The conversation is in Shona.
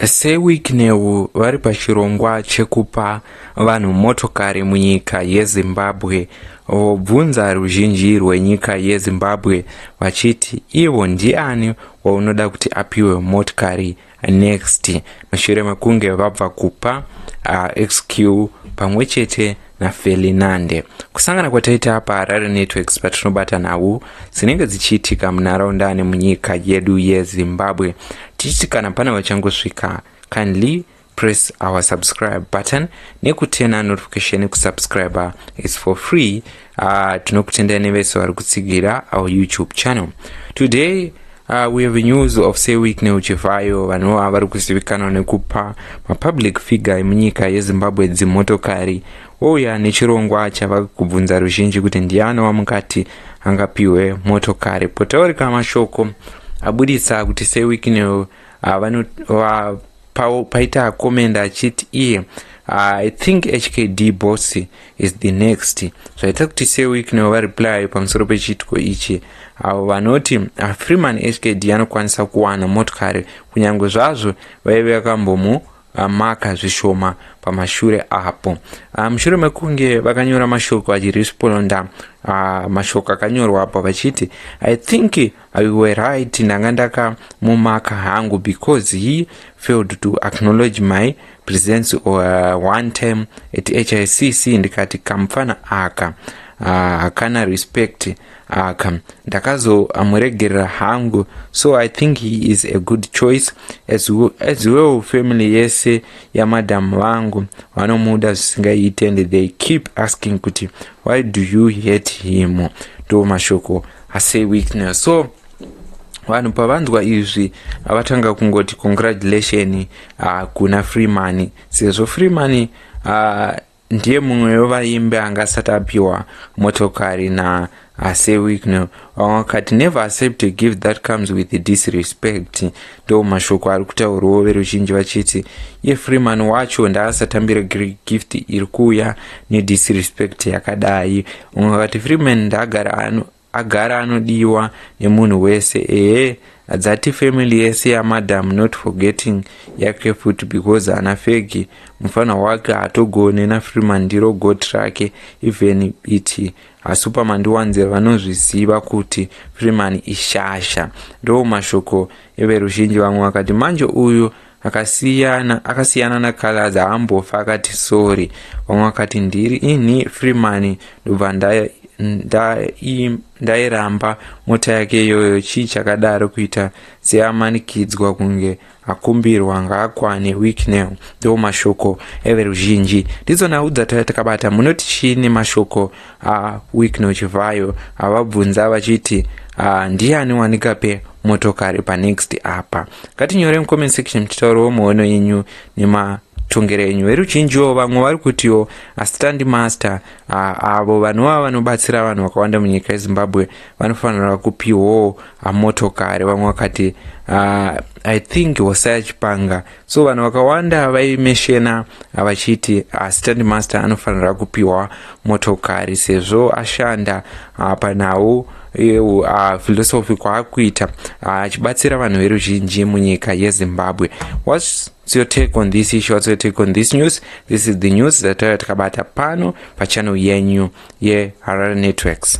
SeWicknell vari pachirongwa chekupa vanhu motokari munyika yeZimbabwe vobvunza ruzhinji rwenyika yeZimbabwe vachiti ivo ndiani waunoda kuti apiwe motokari next mushure mekunge vabva kupa uh, xq pamwe chete nafelinande kusangana kwataita paharare networks patinobata nhau dzinenge dzichiitika munharaunda ane munyika yedu yezimbabwe tichiti kana pane vachangosvika kindly press our subscribe button nekutena notification kusubscriber is for free uh, tinokutendai nevese vari kutsigira our youtube channel today Uh, we have news of seweek neuchivayo vanhu ava vari kuzivikanwa nekupa mapublic figure emunyika yezimbabwe dzimotokari wouya nechirongwa chava kubvunza ruzhinji kuti ndiani wamukati angapiwe motokari potaurika mashoko abudisa kuti seweek new uh, vanova Pawo paita comment achiti iye ah, i think hkd boss is the next zvaita kuti seweek nevo vareply pamusoro pechiitiko ichi avo vanoti ah, freeman hkd anokwanisa kuwana motokari kunyange zvazvo vaive vakambomu maka zvishoma pamashure apo ah, mushure mekunge vakanyora mashoko achiresponda ah, mashoko akanyorwa apo vachiti i think I were right ndanga ndakamumaka hangu because he failed to acknowledge my presence or uh, one time at hicc ndikati kamupfana aka uh, hakana uh, respect aka uh, ndakazomuregerera uh, hangu so i think he is a good choice as, as well family yese yamadam vangu vanomuda zvisingaite and they keep asking kuti why do you hate him ndo mashoko ase weakness so vanhu pavanzwa izvi avatanga kungoti congratulation uh, kuna free money sezvo free money uh, ndiye mumwe wevaimbi anga asati apiwa motokari na ase wigno vakati never accept a gift that comes with disrespect ndo mashoko ari kutaurwawo veruzhinji vachiti iye freeman wacho ndaasatambira gift iri kuuya nedisrespect yakadai Mumwe akati Freeman ndaagara ano agara anodiwa nemunhu wese ehe adzati family yese yamadam not forgetting yake futi because ana fegi mufana wake hatogone nafreeman ndiro got rake even iti hasuperman ndiwanzira vanozviziva kuti freeman ishasha ndo mashoko everuzhinji vamwe vakati manje uyu akasiyana akasiyana na calaz haambofa akati sorry vamwe vakati ndiri ini free money ndobva ndairamba mota yake iyoyo chii chakadaro kuita seamanikidzwa kunge akumbirwa ngaakwane weeknel ndo mashoko everuzhinji ndidzo nhau dzataya takabata munoti chii nemashoko Ah, Wicknell Chivhayo avabvunza vachiti ah, ndiani wanikape motokari panext apa. Ngatinyore mucomment section tichitaurawo muono yenyu nema tongero enyu veruzhinjiwo vamwe vari kutiwo asitandi master avo vanova vanobatsira vanhu vakawanda munyika yezimbabwe vanofanira kupiwawo motokari vamwe vakati i think hosaya chipanga so vanhu vakawanda vaimeshena vachiti ah, stand master anofanira kupiwa motokari sezvo ashanda ah, panhau yephilosophy ah, kwaakuita achibatsira vanhu veruzhinji munyika yezimbabwe What's What's your take on this issue? What's your take on this news? This is the news that takabata pano pachannel yenyu yeHarare Networks.